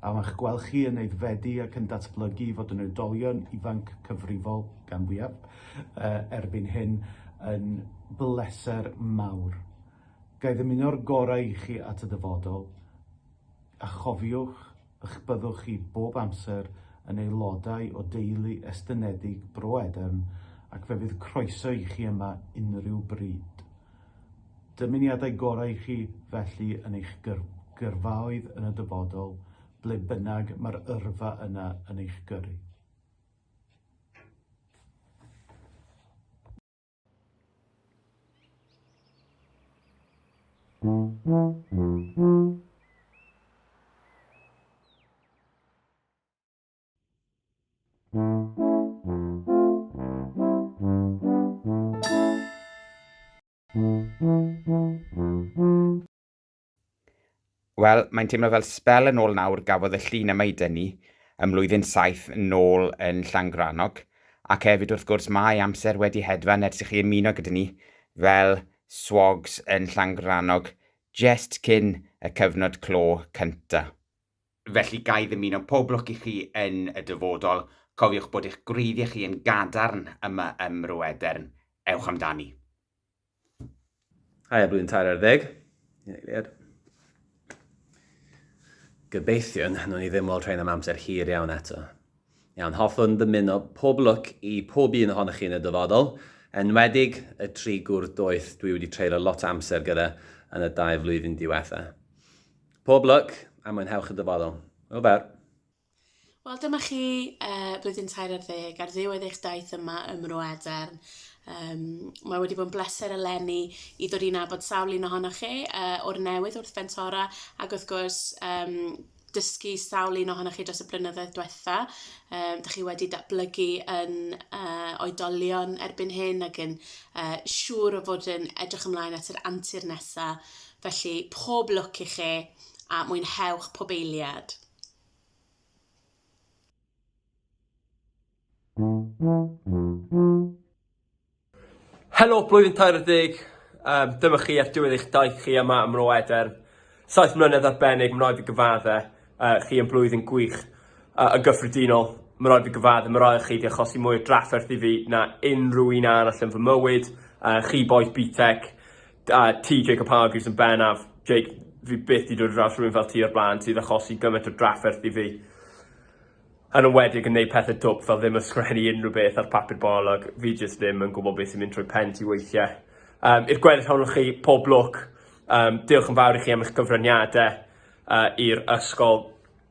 a ma'ch gweld chi yn aeddfedu ac yn datblygu i fod yn oedolion ifanc cyfrifol, gan fwyaf, uh, erbyn hyn, yn bleser mawr. Ga i ddymuno'r gorau i chi at y dyfodol, a chofiwch ych byddwch chi bob amser yn aelodau o deulu estynedig Bro Edern ac fe fydd croeso i chi yma unrhyw bryd. Dymuniadau gorau i chi, felly, yn eich gyrfaoedd yn y dyfodol, ble bynnag mae'r yrfa yna yn eich gyrru. Wel, mae'n teimlo fel spel yn ôl nawr gafodd y llun yma i dynnu ym mlwyddyn saith nôl yn Llangrannog, ac hefyd wrth gwrs mae amser wedi hedfan ers i chi ymuno gyda ni fel swogs yn Llangrannog jest cyn y cyfnod clo cynta. Felly, ga i ddymuno pob lwc i chi yn y dyfodol. Cofiwch bod eich gwreiddiau chi yn gadarn yma ym Mro Edern. Ewch amdani. Haia blwyddyn tair ar ddeg i'n eiliad. Gobeithiwn nhw ni ddim weld rhain am amser hir iawn eto. Iawn, hoffwn ddymuno pob lwc i pob un ohonoch chi yn y dyfodol, enwedig y tri gwr doeth dwi wedi treulio lot o amser gyda yn y dau flwyddyn diwetha. Pob lwc a mwynhewch y dyfodol. O fer. Wel, dyma chi uh, blwyddyn tair ar ddeg ar ddiwedd eich daith yma ym Mro Edern. Um, mae wedi bod yn bleser eleni i ddod i'n abod sawl un ohonoch chi uh, o'r newydd wrth Fentora ac wrth gwrs um, dysgu sawl un ohonoch chi dros y blynyddoedd diwetha. Um, da chi wedi datblygu yn uh, oedolion erbyn hyn ac yn uh, siŵr o fod yn edrych ymlaen at yr antur nesaf Felly, pob lwc i chi a mwynhewch pob eiliad. Helo blwyddyn 40, um, dyma chi ar diwedd eich daith chi yma ym Mro Edern. Saith mlynedd arbennig, mae'n rhaid fi gyfadde, uh, chi yn blwyddyn gwych uh, yn gyffredinol. Mae'n rhaid fi gyfadde, mae'n rhaid chi wedi achosi mwy o drafferth i fi na unrhyw un arall yn fy mywyd. Uh, chi boes BTEC, A ti Jacob Hargreaves yn bennaf. Jake fi byth 'di dod ar draws rhywun fel ti o'r bla'n sydd achosi gymaint o drafferth i fi. Yn enwedig yn neud pethe dwp fel ddim yn sgwennu unrhyw beth ar papur bolog. Fi jyst ddim yn gwbod beth sy'n mynd trwy pen ti weithie. Yym i'r gweddill ohonoch chi pob lwc. Yym diolch yn fawr i chi am eich cyfraniade yy i'r ysgol.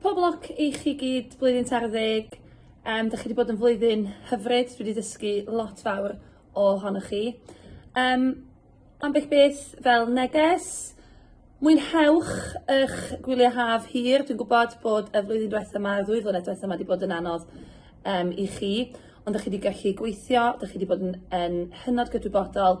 Pob lwc i chi gyd blwyddyn tair ddeg. Um, da chi wedi bod yn flwyddyn hyfryd, dwi wedi dysgu lot fawr o honoch chi. Um, ambell beth fel neges, mwynhewch eich gwyliau haf hir. Dwi'n gwybod bod y flwyddyn diwethaf yma, y ddwy flynedd diwethaf yma wedi bod yn anodd um, i chi, ond da chi wedi gallu gweithio, da chi wedi bod yn, yn hynod gydwybodol,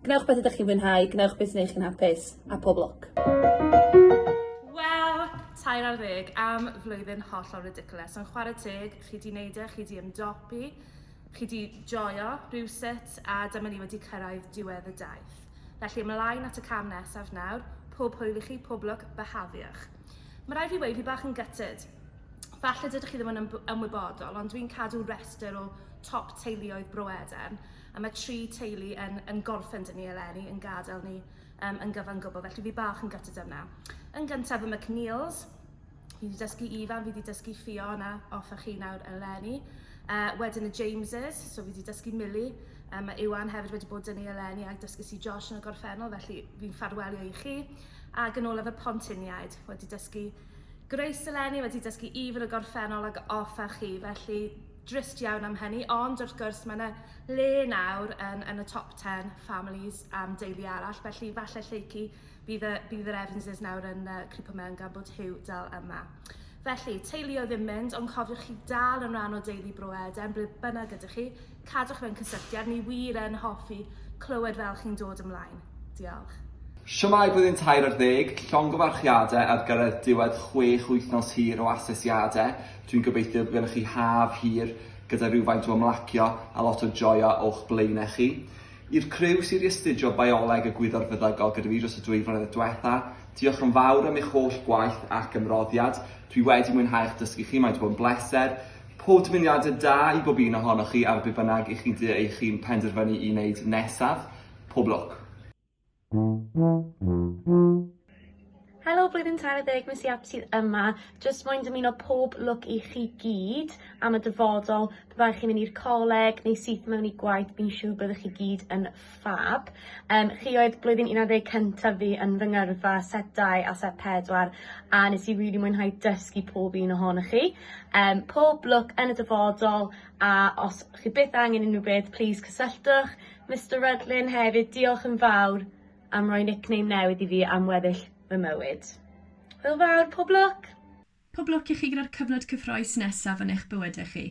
Gwnewch beth ydych chi'n fwynhau, gwnewch beth sy'n eich chi'n hapus, a pob lwc! Wel, tair ar ddeg am flwyddyn hollol ridiculous, ond chwarae teg, chi di neud e, chi di ymdopi, chi di joio rhywsut, a dyma ni wedi cyrraedd diwedd y daith. Felly ymlaen at y cam nesaf nawr, pob hwyl i chi, pob lwc, byhafiwch. Mae rhaid fi weud, fi bach yn gutted. Falle dydych chi ddim yn ymwybodol, ond dwi'n cadw restr o top teuluoedd Bro Edern, A mae tri teulu yn yn gorffen 'da ni eleni, yn gadael ni um, yn gyfan gwbl, felly fi bach yn gytid yna. Yn gyntaf y McNeils, fi wedi dysgu Ifan, fi wedi dysgu Fiona off a chi nawr eleni. Uh, wedyn y Jameses, so fi wedi dysgu Millie, um, mae Iwan hefyd wedi bod dyn ni eleni a dysgu si Josh yn y gorffennol, felly fi'n ffarwelio i chi. A gan olaf y Pontiniaid, wedi dysgu Grace eleni, wedi dysgu Ifan y gorffennol ag off a chi, felly drist iawn am hynny, ond wrth gwrs mae yna le nawr yn, yn y top 10 families am deulu arall, felly falle lleucu bydd y, bydd yr Evanses nawr yn uh, cripo mewn gan bod Hugh dal yma. Felly, teulu o ddim mynd, ond cofiwch chi dal yn rhan o deulu Bro Eden, ble bynnag ydych chi, cadwch mewn cysylltiad, ni wir yn hoffi clywed fel chi'n dod ymlaen. Diolch. Siamai blwyddyn tair ar ddeg, llongyfarchiadau ar gyfer diwedd chwech wythnos hir o asesiadau, Dwi'n gobeithio bod gennych chi haf hir gyda rhywfaint o ymlacio a lot o joio o'ch blaenau chi. I'r criw sydd wedi astudio Bioleg y Gwyddor Feddygol gyda fi dros y dwy flynedd diwetha', diolch yn fawr am eich holl gwaith ac ymroddiad. Dwi wedi mwynhau eich dysgu chi, mae wedi bod yn bleser. Pob dymuniadau da i bob un ohonoch chi ar be bynnag 'ych chi'n dy eich hun penderfynu i wneud nesaf. Pob lwc! Helo blwyddyn tair a deg Miss Yap sydd yma, jyst moyn dymuno pob lwc i chi gyd am y dyfodol, pe baech chi'n mynd i'r coleg neu syth mewn i gwaith fi'n siŵr byddwch chi gyd yn ffab. Um, chi oedd blwyddyn 11 cyntaf fi yn fy ngyrfa set 2 a set 4 a nes i really mwynhau dysgu pob un ohonoch chi. Um, pob lwc yn y dyfodol a os chi byth angen unrhyw beth, please cysylltwch. Mister Rhydlyn hefyd diolch yn fawr am roi nickname newydd i fi am weddill fy mywyd. Hwyl fawr, pob lwc! Pob lwc i chi gyda'r cyfnod cyffroes nesaf yn eich bywydau chi.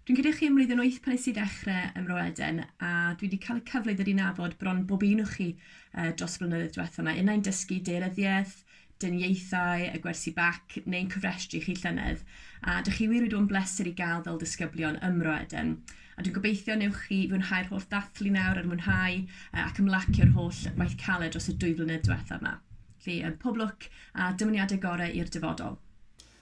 Dwi'n credu chi ym mlwyddyn wyth pan nes i ddechre ym Mro Eden a dwi di cael y cyfle i ddod i nabod bron bob un o chi dros y blynyddoedd diwetha 'ma. Unai'n dysgu deiryddiaeth, dyniaethau, y gwersi bac neu'n cofrestru chi llynedd, a dych chi wir wedi bod yn bleser i gael fel disgyblion ym Mro Eden. A dwi'n gobeithio newch chi fwynhau'r holl ddathlu nawr a'r mwynhau ac ymlacio'r holl waith caled dros y dwy flynedd diwethaf 'ma. Felly, pob lwc a dymuniadau gorau i'r dyfodol.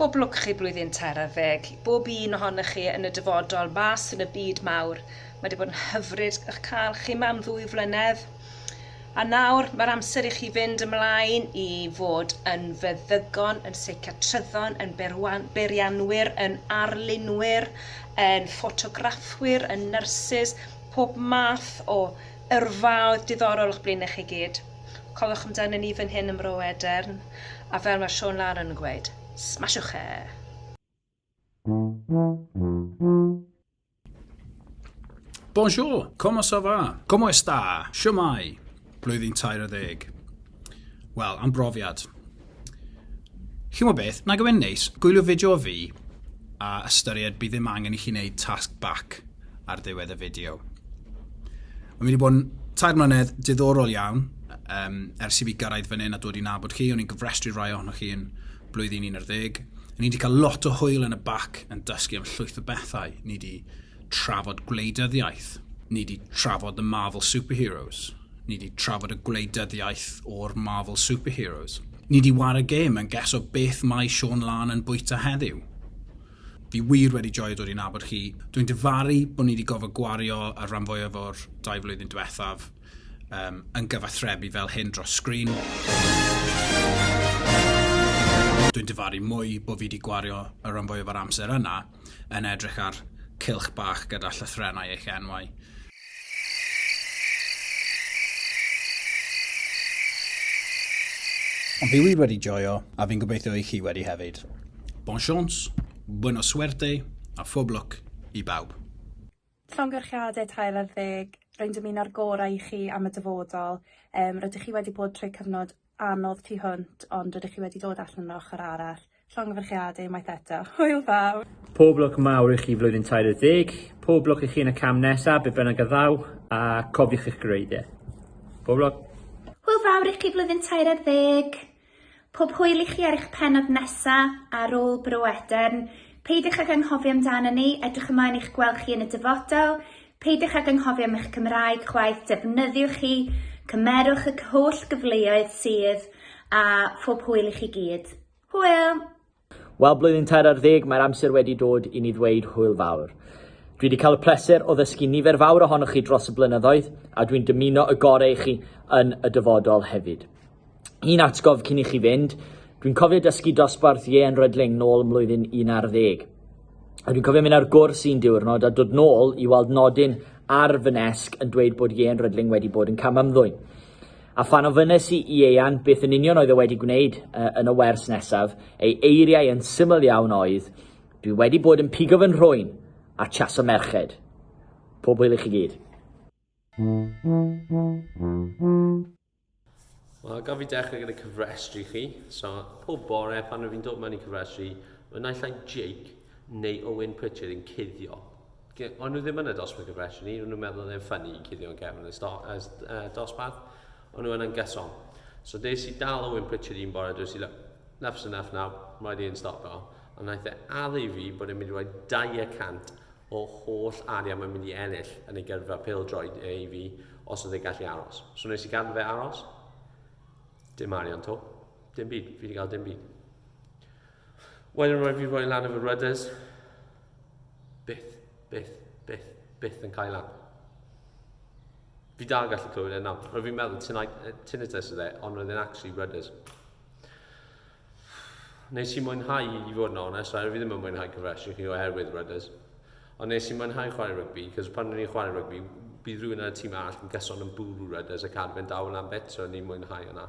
Pob lwc chi blwyddyn tair ar ddeg i bob un ohonoch chi yn y dyfodol mas yn y byd mawr. Mae di bod yn hyfryd ych cael chi ma am ddwy flynedd. A nawr mae'r amser i chi fynd ymlaen i fod yn feddygon, yn seiciatryddon, yn berwan, berianwyr, yn arlunwyr, yn ffotograffwyr, yn nyrsys, pob math o yrfaoedd diddorol o'ch blaenau chi gyd. Cofiwch amdano ni fan hyn ym Mro Edern, a fel mae Siôn Laren yn gweud, smasiwch e! Bonjour, comment ça va? Como está? Siwmai? Blwyddyn tair a ddeg. Wel, am brofiad. Chimo beth, nag yw e'n neis, gwylio fideo o fi, a ystyried bydd ddim angen i chi wneud task back ar ddiwedd y fideo. Mae'n mynd i bod yn tair mlynedd diddorol iawn um, ers i fi gyrraedd fan hyn a dod i nabod chi. O'n i'n gyfrestru rai ohonoch chi yn blwyddyn 11. O'n i wedi cael lot o hwyl yn y bac yn dysgu am llwyth o bethau. Ni wedi trafod gwleidyddiaeth, ni di trafod y Marvel Superheroes, ni di trafod y gwleidyddiaeth o'r Marvel Superheroes. Ni di war y gêm yn ges o beth mae Sean Lan yn bwyta heddiw. Fi wir wedi joio dod i nabod chi. Dwi'n difaru bod ni wedi gofod gwario y rhan fwyaf o'r dau flwyddyn diwethaf um, yn gyfathrebu fel hyn dros sgrin. Dwi'n difaru mwy bod fi wedi gwario y rhan fwyaf o'r amser yna yn edrych ar cylch bach gyda llythrennau eich enwau. Fi wir wedi joio, a fi'n gobeithio i chi wedi hefyd. Bon chance, buena suerte, a phob lwc i bawb. Llongyfarchiadau tair ar ddeg, rwy'n dymuno'r gorau i chi am y dyfodol. Yym, rydych chi wedi bod trwy cyfnod anodd tu hwnt, ond rydych chi wedi dod allan yr ochr arall. Llongyfarchiadau unwaith eto. Hwyl fawr! Pob lwc mawr i chi flwyddyn tair ar ddeg, pob lwc i chi yn y cam nesaf, be bynnag a ddaw, a cofiwch eich gwreiddie. Pob lwc! Hwyl fawr i chi flwyddyn tair ar ddeg! Pob hwyl i chi ar eich pennod nesa a rôl Bro Edern. Peidiwch ag anghofio amdanon ni, edrych ymlaen i'ch gweld chi yn y dyfodol. Peidiwch ag anghofio am eich Cymraeg chwaith, defnyddiwch hi, cymerwch y holl gyfleoedd sydd a phob hwyl i chi gyd. Hwyl! Wel, blwyddyn tair ar ddeg, mae'r amser wedi dod i ni ddweud hwyl fawr. Dwi wedi cael y pleser o ddysgu nifer fawr ohonoch chi dros y blynyddoedd, a dwi'n dymuno y gorau i chi yn y dyfodol hefyd. Un atgof cyn i chi fynd, dwi'n cofio dysgu dosbarth Ie'n Rydling nôl ym mlwyddyn 11. A dwi'n cofio mynd ar gwrs un diwrnod a dod nôl i weld nodyn ar fy nesg yn dweud bod Ie'n Rydling wedi bod yn cam ymddwyn. A phan ofynes i i Ieuan beth yn union oedd e wedi gwneud uh, yn y wers nesaf, ei eiriau yn syml iawn oedd, Dwi wedi bod yn pigo fy nhrwyn a chaso merched. Pob hwyl i chi gyd. Wel, gaf fi dechrau gyda cyfrestru chi. So, pob bore pan rwy'n dod mewn i cyfrestru, mae naill ai Jake neu Owen Pritchard yn cuddio. O'n nhw ddim yn y dosbarth gyffredin i, o'n nhw'n meddwl oedd e'n ffynnu i cuddio yn cefn y dosbarth, o'n nhw yna'n gyson. So des i dal Owen Pritchard un bore, dwi'n si'n enough is enough now, mae wedi yn stopio. A wnaeth e addu i fi bod e'n mynd i roi 200 o holl arian mae'n mynd i ennill yn ei gyrfa pil droed e i fi os oedd e'n gallu aros. So nes i gadw fe aros, dim arian to, dim byd, fi wedi cael dim byd. Wedyn rwyf fi roi lan efo rudders. Byth, byth, byth, byth yn cael lan. Fi dal yn gallu clywed e nawr. Rwyf fi'n meddwl tinnitus oedd e, ond roedd e'n actually rudders. Nes i mwynhau i fod yn onest, rwyf fi ddim yn mwynhau cyfresu chi oherwydd rudders. Ond nes i mwynhau chwarae rygbi, cos pan rwy'n i'n chwarae rygbi, bydd rhywun ar y tîm arall yn gyson yn bwrw rudders ac arfer dawel am bit, so ni'n mwynhau yna.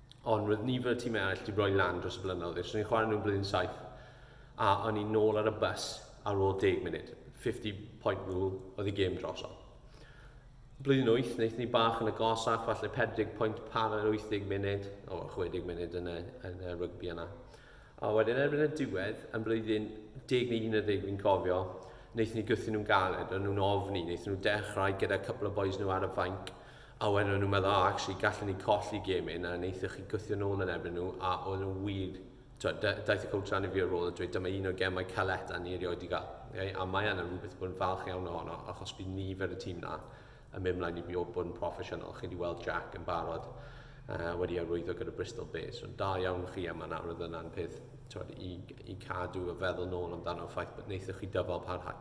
Ond roedd nifer y tîmau eraill wedi rhoi lan dros y blynyddoedd. Os o'n i'n chwarae nhw'n blwyddyn saith, a o'n i'n nôl ar y bus ar ôl deg munud. 50 point rule oedd y gêm drosodd. Blwyddyn wyth, wnaeth ni bach yn y gosach, falle 40 point par ar 80 munud, o 60 munud yn y, yn y rygbi yna. A wedyn erbyn y diwedd, yn blwyddyn 10 neu 11 fi'n cofio, wnaethon ni gythu nhw'n galed, o'n nhw'n ofni, wnaethon nhw dechrau gyda cwpl o boys nhw ar y fainc, A wedyn o'n nhw'n meddwl, o, actually, gallwn ni colli gêm hyn, a wnaethoch chi gwthio nôl yn erbyn nhw, a oedd nhw wir, twyd, daeth y coach lan i fi ar ôl a dweud, dyma un o'r gemau caled a ni erioed wedi cael. Okay? A mae yna rhywbeth bod yn falch iawn ohono, achos bydd nifer y tîm na yn mynd mlaen i fi o bod yn proffesiynol. Chi wedi weld Jack yn barod uh, wedi arwyddo gyda Bristol Bay, so da iawn chi yma nawr, oedd yna'n peth twyd, i, i cadw y feddwl nôl amdano ffaith bod wnaethoch chi dyfal parhau.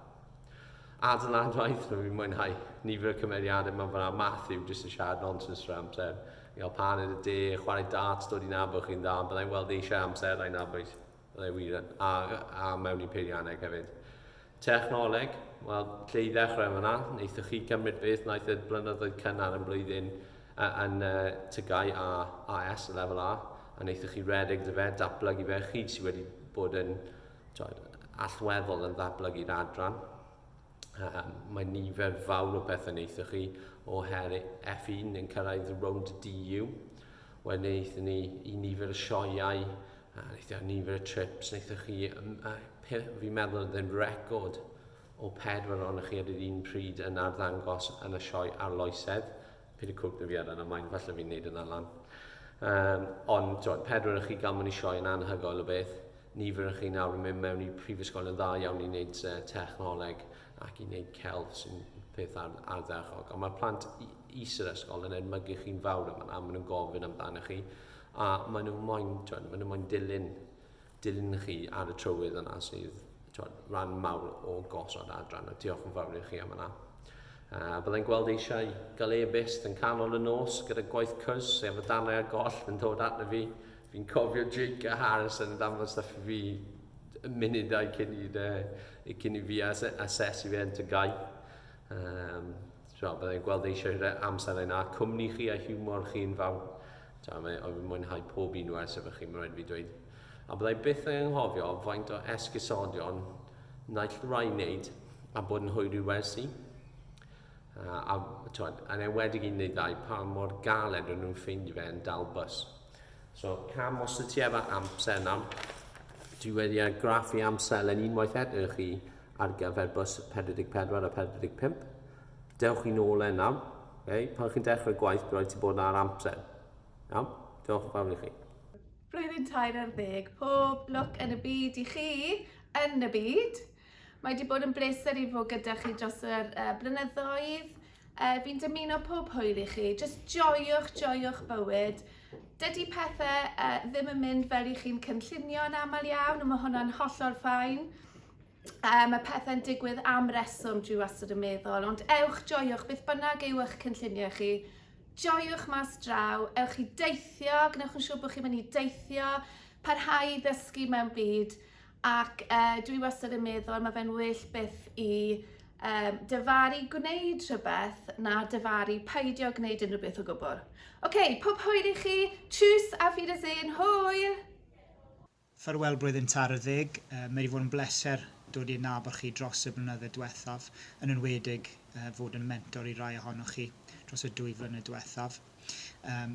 A dyna'n waith nhw, fi'n mwynhau nifer y cymeriadau mae'n fanna. Matthew, jyst yn siarad nonsense trwy'r amser. Yn cael pan yn y de, chwarae darts, dod i nabod chi'n dda. Byddai'n weld eisiau amser a'i nabod. Byddai wir yn, a, a mewn i peirianneg hefyd. Technoleg, wel, lle i ddechrau yma na, wnaethoch chi cymryd beth wnaeth y blynyddoedd cynnar yn blwyddyn yn uh, tygau a AS, y lefel A, a wnaethoch chi redeg dy fe, datblygu fe, chi sydd wedi bod yn allweddol yn ddatblygu'r adran. Um, mae nifer fawr o bethau wnaethoch chi o her F1 yn cyrraedd rownd DU. Wedyn wnaethon ni i nifer y sioeau, a wnaethon ni nifer y trips, wnaethoch chi, fi'n meddwl oedd yn record o pedwar ohonoch chi ar yr un pryd yn arddangos yn y sioe arloesedd Pili cwrc na fi ar yna, mae'n falle fi'n neud yna lan. Um, ond, twod, pedwar chi gan mynd i sioe yn anhygoel o beth. Nifer chi nawr yn mynd mewn i prifysgol yn dda iawn i wneud uh, technoleg ac i wneud celf sy'n peth ar, arddechog. Ond mae'r plant is yr ysgol yn edmygu chi'n fawr yma, a maen nhw'n gofyn amdano chi. A maen nhw'n moyn, twod, maen nhw'n moyn dilyn dilyn chi ar y trywydd yna sydd twod, rhan mawr o gosod adran a diolch yn fawr i chi am yna. Uh, byddai'n gweld eisiau gael e-byst yn canol y nos gyda gwaith cwrs sef y darnau a goll yn dod arno fi. Fi'n cofio Jake a Harrison yn danfod stuff i fi y munudau cyn i, uh, cyn i fi asesu fe yn tygau. Um, so, byddai'n gweld eisiau amser yna. Cwmni chi a hiwmor chi'n fawr. Da, mae oedd yn mwynhau pob un o esef chi, mae'n rhaid fi dweud. A byddai byth ei anghofio faint o esgusodion naill rai wneud a bod yn hwyr i wersi. Uh, a twyd, yn enwedig un neu ddau, pa mor galed o'n nhw'n ffeindio fe yn dal bus. So, cam os y ti efo amser yna, dwi wedi ar graffu amser yn unwaith eto chi ar gyfer bus 44 a 45. Dewch i nôl e nawr. Okay? Pan chi'n dechrau gwaith, bydd rhaid ti bod ar amser. Iawn? Diolch yn fawr i chi. Blwyddyn tair ar ddeg, pob lwc yn y byd i chi, yn y byd. Mae wedi bod yn bleser i fod gyda chi dros y uh, blynyddoedd. Uh, fi'n dymuno pob hwyl i chi, jyst joiwch, joiwch bywyd. Dydy pethau uh, ddim yn mynd fel i chi'n cynllunio yn aml iawn, a mae hwnna'n hollol ffain. Um, mae pethau'n digwydd am reswm, dwi wastad yn meddwl, ond ewch joiwch beth bynnag yw eich cynlluniau chi. Joiwch mas draw, ewch i deithio, gwnewch yn siŵr bod chi'n mynd i deithio, parhau i ddysgu mewn byd, ac uh, dwi wastad yn meddwl, mae fe'n well beth i um, dyfaru gwneud rhywbeth na dyfaru paidio gwneud unrhyw beth o gwbl. Oce, okay, pob hwyr i chi, tschüss a fi dy zyn, hwyr! Ffarwel Blwyddyn Târ y Ddig. Mae 'di fod yn bleser dod i adnabod chi dros y blynydde dwethaf, yn enwedig fod yn mentor i rai ohonoch chi dros y dwy flynedd dwethaf. Um,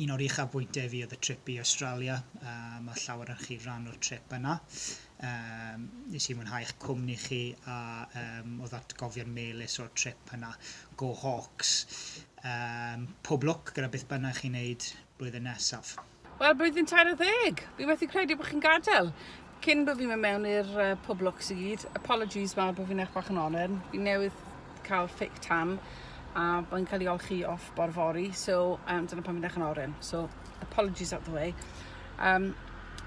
un o'r uchafbwyntiau fi oedd y trip i Australia, um, a llawer yn chi rhan o'r trip yna. Um, nes i mwynhau eich cwmni chi a um, oedd atgofion melus o'r trip yna. Go Hawks! Um, pob lwc gyda beth bynnag chi'n neud blwyddyn nesaf. Wel, blwyddyn tair a ddeg! Fi methu credu bod chi'n gadael. Cyn bod fi'n mynd mewn i'r uh, pob lwcs i gyd, apologies mawr bod fi'n eich bach yn oren. Fi newydd cael fake tan a mae'n cael ei olchi off bor fori, so um, dyna pan fi'n eich yn oren. So, apologies out the way. Um,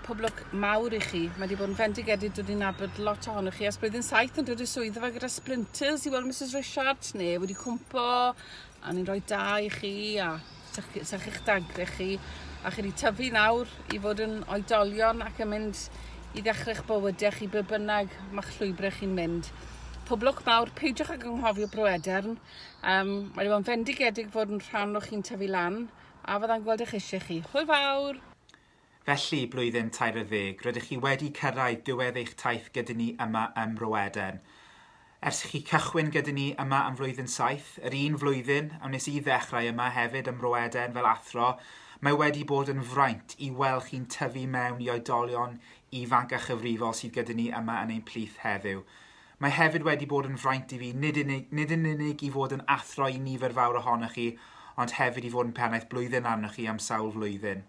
pob lwc mawr i chi. Mae wedi bod yn fendigedig, dwi wedi nabod lot ohonoch chi. As blwyddyn saith yn dod i'r swydd yma gyda splinters i weld Mrs Richard, neu wedi cwmpo, a ni'n rhoi da i chi, a 'Sa chi, 'sa chi'ch dagre chi, a chi 'di tyfu nawr i fod yn oedolion ac yn mynd i ddechre'ch bywyde chi be bynnag ma'ch llwybre chi'n mynd. Poblwch mawr, peidiwch ag anghofio Bro Edern, um, mae o'n fendigedig fod yn rhan o chi'n tyfu lan, a fydda'n gweld eich eisiau chi. Hwyl fawr! Felly, blwyddyn tair ar ddeg, rydych chi wedi cyrraedd diwedd eich taith gyda ni yma ym Mro Eden. Ers i chi cychwyn gyda ni yma am flwyddyn saith, yr un flwyddyn a wnes i ddechrau yma hefyd ym Mro Eden fel athro, mae wedi bod yn fraint i weld chi'n tyfu mewn i oedolion ifanc a chyfrifol sydd gyda ni yma yn ein plith heddiw. Mae hefyd wedi bod yn fraint i fi nid yn, nid yn unig i fod yn athro i nifer fawr ohonoch chi, ond hefyd i fod yn pennaeth blwyddyn arnoch chi am sawl flwyddyn.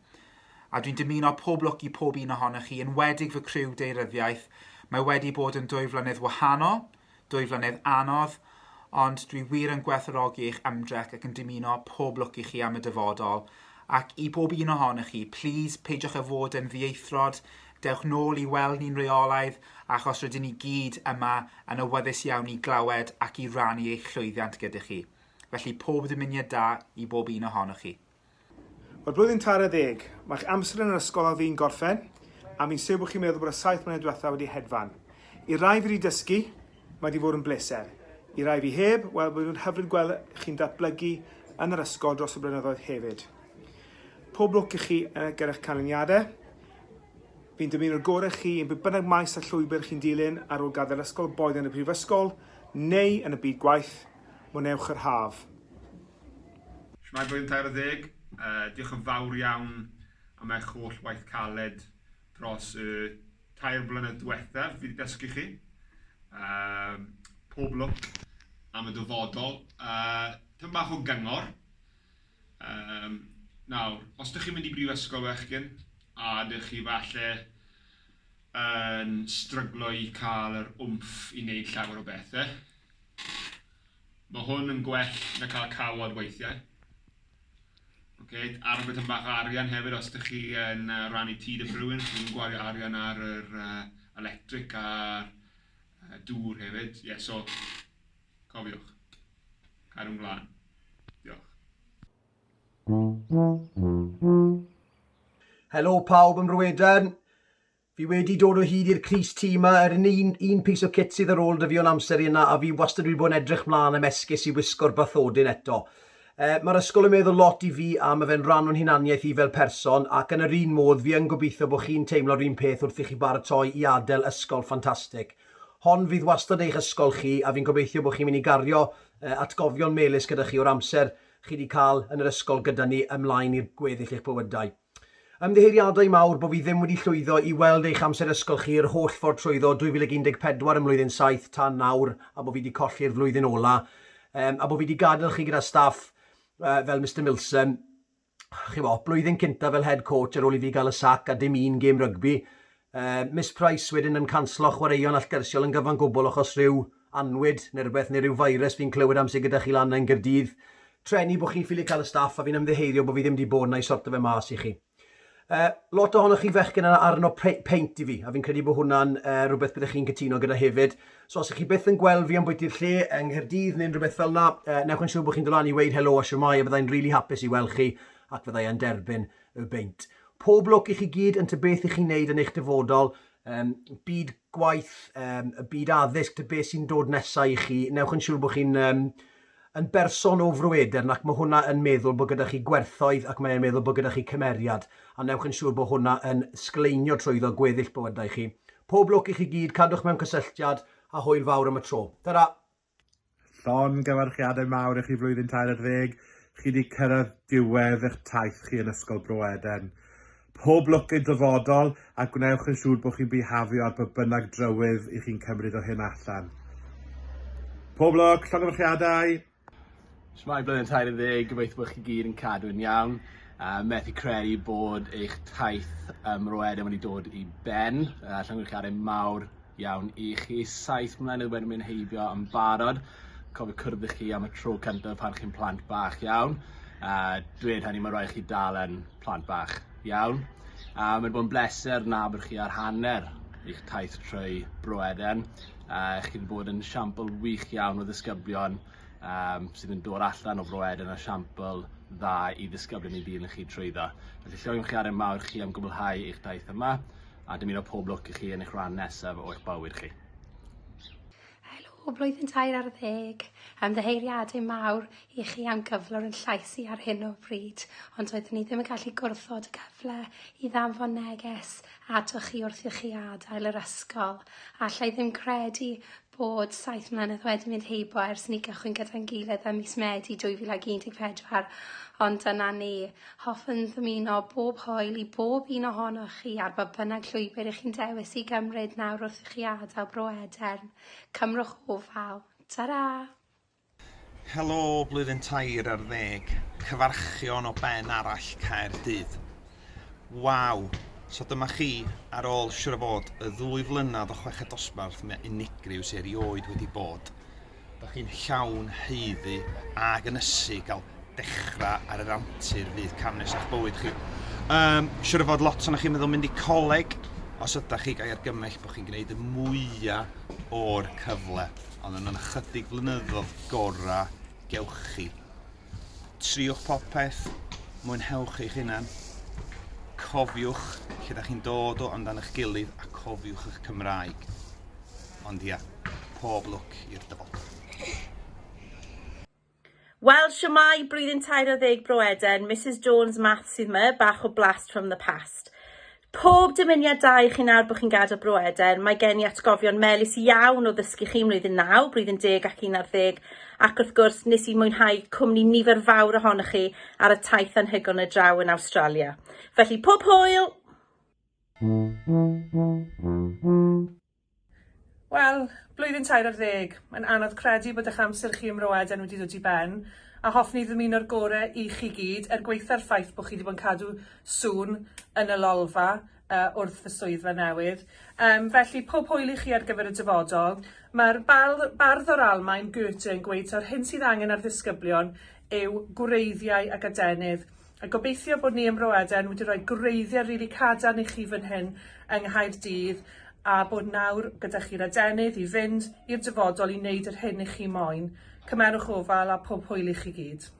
A dwi'n dymuno pob lwc i pob un ohonoch chi, enwedig fy criw deiryddiaeth. Mae wedi bod yn dwy flynedd wahanol, dwy flynedd anodd, ond dwi wir yn gwerthfawrogi eich ymdrech ac yn dymuno pob lwc i chi am y dyfodol. Ac i bob un ohonoch chi, plîs, peidiwch â fod yn ddieithrod, dewch nôl i weld ni'n reolaidd, achos rydyn ni gyd yma yn awyddus iawn i glywed ac i rannu eich llwyddiant gyda chi. Felly, pob dymuniad da i bob un ohonoch chi. Mae'r blwyddyn tair ar ddeg. Mae'ch amser yn yr ysgol ar fin gorffen, a fi'n siwr bod chi'n meddwl bod y saith mlynedd diwetha' wedi hedfan. I rai fi 'di dysgu, mae 'di fod yn bleser. I rai fi heb, wel bydd yn hyfryd gweld chi'n datblygu yn yr ysgol dros y blynyddoedd hefyd. Pob lwc i chi gyda'ch canlyniadau. Fi'n dymuno'r gorau i chi yn beth bynnag maes a llwybr chi'n dilyn ar ôl gadael ysgol boed yn y prifysgol neu yn y byd gwaith. Mwnewch yr haf. Shwmae Blwyddyn Tair Ar Ddeg, diolch yn fawr iawn am eich holl waith caled dros y tair blynedd diwethaf, fi wedi dysgu chi, um, pob lwc am y dyfodol. Uh, Tyn bach o gyngor, um, nawr, os ydych chi'n mynd i brifysgol fechgyn, a ydych chi falle yn stryglo i cael yr wmff i wneud llawer o bethau, Mae hwn yn gwell na cael cawod weithiau. Ok, ar beth yn bach o arian hefyd, os ydych chi yn uh, rannu tŷ dim rhywun, chi yn gwario arian ar yr uh, electric a'r uh, dŵr hefyd. Ie, yeah, so, cofiwch, cadw'n glân. Diolch. Helo pawb ym Mrweden. Fi wedi dod o hyd i'r crys tŷ ma, yr un un un piece of kit sydd ar ôl da fi o'n amser i yna a fi wastad wedi bod yn edrych mlan am esgus i wisgo'r bathodyn eto. Yy mae'r ysgol yn meddwl lot i fi a ma fe'n ran o'n hunaniaeth i fel person ac yn yr un modd fi yn gobeithio bod chi'n teimlo'r un peth wrth i chi baratoi i adel ysgol ffantastig. Hon fydd wastad eich ysgol chi a fi'n gobeithio bod chi'n mynd i gario yy atgofion melys gyda chi o'r amser chi di cael yn yr ysgol gyda ni ymlaen i'r gweddill eich bywydau. Ymddiheuriadau mawr bo fi ddim wedi llwyddo i weld eich amser ysgol chi yr holl ffordd trwyddo 2014 ym mlwyddyn saith tan nawr a bo fi 'di colli'r flwyddyn ola um, a bo fi 'di gadael chi gyda staff uh, fel Mister Milsom chi'bo, blwyddyn cyntaf fel head coach ar ôl i fi gael y sac a dim un gêm rygbi Yy, Miss Price wedyn yn canslo chwaraeon allgyrsiol yn gyfan gwbl achos rhyw annwyd neu rywbeth, neu ryw virus fi'n clywed am sy gyda chi lan 'na yn Gaerdydd. Treni bo' chi'n ffili cael y staff a fi'n ymddiheurio bo' fi ddim 'di bod 'na i sorto fe mas i chi. Yy, lot ohonoch chi fechgyn yn arno pe- peint i fi, a fi'n credu bo' hwnna'n yy rywbeth byddech chi'n cytuno gyda hefyd. So os 'ych chi byth yn gweld fi ambwyti'r lle yng Nghaerdydd neu'n rywbeth fel 'na, yy, newch yn siŵr bo' chi'n dod lan i weud helo a shwmae a byddai'n rili hapus i weld chi ac fyddai e'n derbyn Y beint. Pob lwc i chi gyd yn ty beth i chi'n neud yn eich dyfodol, um, byd gwaith, um, y byd addysg, ty beth sy'n dod nesau i chi. Newch yn siŵr bod chi'n um, yn berson o frweder ac mae hwnna yn meddwl bod gyda chi gwerthoedd ac mae'n meddwl bod gyda chi cymeriad a newch yn siŵr bod hwnna yn sgleinio trwyddo gweddill bywydau chi. Pob lwc i chi gyd, cadwch mewn cysylltiad a hwyl fawr am y tro. Ta-ra! Llongyfarchiadau mawr i chi flwyddyn tair ar ddeg, chi wedi cyrraedd diwedd eich taith chi yn Ysgol Bro Eden. Pob lwc i'n dyfodol a gwnewch yn siŵr bod chi'n bihafio ar ba bynnag drywydd i chi'n cymryd o hyn allan. Pob lwc, llongyfarchiadau! Shwmae Blwyddyn Tair Ar Ddeg, gobeithio bod chi gyd yn cadw'n iawn. Uh, methu credu bod eich taith um, roedem wedi dod i ben. Uh, Llongyfarchiadau mawr iawn i chi. Saith mlynedd wedi mynd heibio yn barod. Cofio cwrdd i chi am y tro cyntaf pan chi'n plant bach iawn. Uh, dweud hynny, mae rhaid chi dal yn plant bach iawn. Uh, Mae'n bod yn bleser na bod chi ar hanner eich taith trwy Bro Eden. Uh, chi wedi bod yn siampl wych iawn o ddisgyblion um, sydd yn dod allan o Fro Ed yn esiampl dda i ddisgyblion i dîm i chi trwyddo. Felly llywio'n chi ar ein mawr chi am gwblhau eich daith yma a dymuno pob lwc i chi yn eich rhan nesaf o'ch bywyd chi. Helo, blwyddyn tair ar ddeg. Am ddyheiriadau mawr i chi am gyflwr yn llais i ar hyn o bryd, ond oeddwn ni ddim yn gallu gwrthod y cyfle i ddanfon neges atoch chi wrth i chi adael yr ysgol. Alla i ddim credu bod saith mlynedd wedi mynd heibio ers i ni gychwyn gyda'n gilydd ym mis Medi 2014, ond dyna ni. Hoffwn ddymuno bob hwyl i bob un ohonoch chi ar ba bynnag llwybr i chi'n dewis i gymryd nawr wrth i chi adael Bro Edern. Cymrwch ofal. Tara! Helo blwyddyn tair ar ddeg. Cyfarchion o ben arall Caerdydd. Waw! So dyma chi, ar ôl siwr o fod y ddwy flynedd o chweched dosbarth mae unigryw sy erioed wedi bod. Dych chi'n llawn haeddu ag ynysu gael dechrau ar yr antur fydd cam nesaf bywyd chi. Um, siwr o fod lot o'n chi'n meddwl mynd i coleg os ydych chi gael argymell bod chi'n gwneud y mwyaf o'r cyfle. ond yn y chydig flynyddoedd gorau, gewch chi. Triwch popeth, mwynhewch eich hunan, cofiwch lle da chi'n dod o amdan eich gilydd a cofiwch eich Cymraeg. Ond ia, pob lwc i'r dyfodol. Wel shwmae, blwyddyn tair ar ddeg Bro Eden, Misus Jones Maths sydd my, bach o blast from the past. Pob dymuniad da i chi nawr bod chi'n gadael Bro Eden, mae gen i atgofion melys iawn o ddysgu chi yn mlwyddyn naw, blwyddyn deg ac un ar ddeg, ac wrth gwrs nes i mwynhau cwmni nifer fawr ohonoch chi ar y taith anhygoel na draw yn Awstralia. Felly pob hwyl! Wel, blwyddyn tair ar ddeg. Mae'n anodd credu bod eich amser chi ym Mro Eden wedi dod i ben, a hoffwn i ddymuno'r gore i chi gyd, er gwaetha'r ffaith bod chi wedi bod yn cadw sŵn yn y lolfa uh, wrth y swyddfa newydd. Um, felly, pob hwyl i chi ar gyfer y dyfodol. Mae'r bardd o'r Almaen, Goethe, yn gweud ta'r hyn sydd angen ar ddisgyblion yw gwreiddiau ac adenydd. A gobeithio bod ni ym Mro Eden wedi rhoi gwreiddiau rili cadarn i chi fan hyn yng Nghaerdydd a bod nawr gyda chi'r adenydd i fynd i'r dyfodol i wneud yr hyn i chi moyn. Cymerwch ofal a pob hwyl i chi gyd.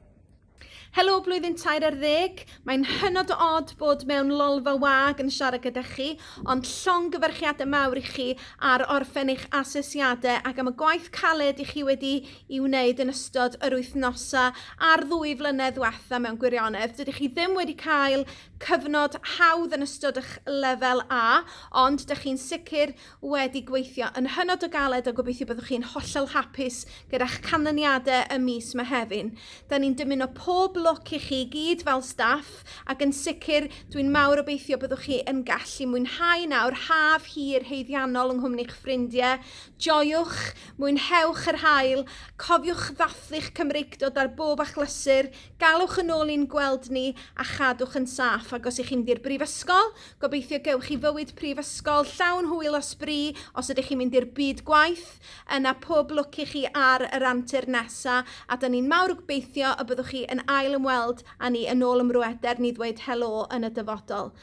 Helo blwyddyn tair ar ddeg. Mae'n hynod o od bod mewn lolfa wag yn siarad gyda chi, ond llongyfarchiadau mawr i chi ar orffen eich asesiadau ac am y gwaith caled i chi wedi i wneud yn ystod yr wythnosau a'r ddwy flynedd ddiwetha mewn gwirionedd. Dydych chi ddim wedi cael cyfnod hawdd yn ystod eich lefel A, ond dych chi'n sicr wedi gweithio yn hynod o galed a gobeithio byddwch chi'n hollol hapus gyda'ch canlyniadau y mis Mehefin. Da ni'n dymuno pob lwc i chi gyd fel staff ac yn sicr dwi'n mawr obeithio byddwch chi yn gallu mwynhau nawr haf hir heiddiannol yng nghwmni'ch ffrindiau. Joiwch Mwynhewch yr haul, cofiwch ddathlu'ch Cymreictod ar bob achlysur, galwch yn ôl i'n gweld ni a chadwch yn saff. Ac os y'ch chi'n mynd i'r brifysgol, gobeithio gewch chi fywyd prifysgol llawn hwyl a sbri, os ydych chi'n mynd i'r byd gwaith, yna pob lwc i chi ar yr antur nesa, a 'da ni'n mawr gbeithio y byddwch chi yn ail ymweld a ni yn ôl ym mrweder ni ddweud helo yn y dyfodol.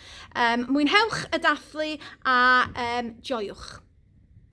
Mwynhewch y dathlu a joiwch.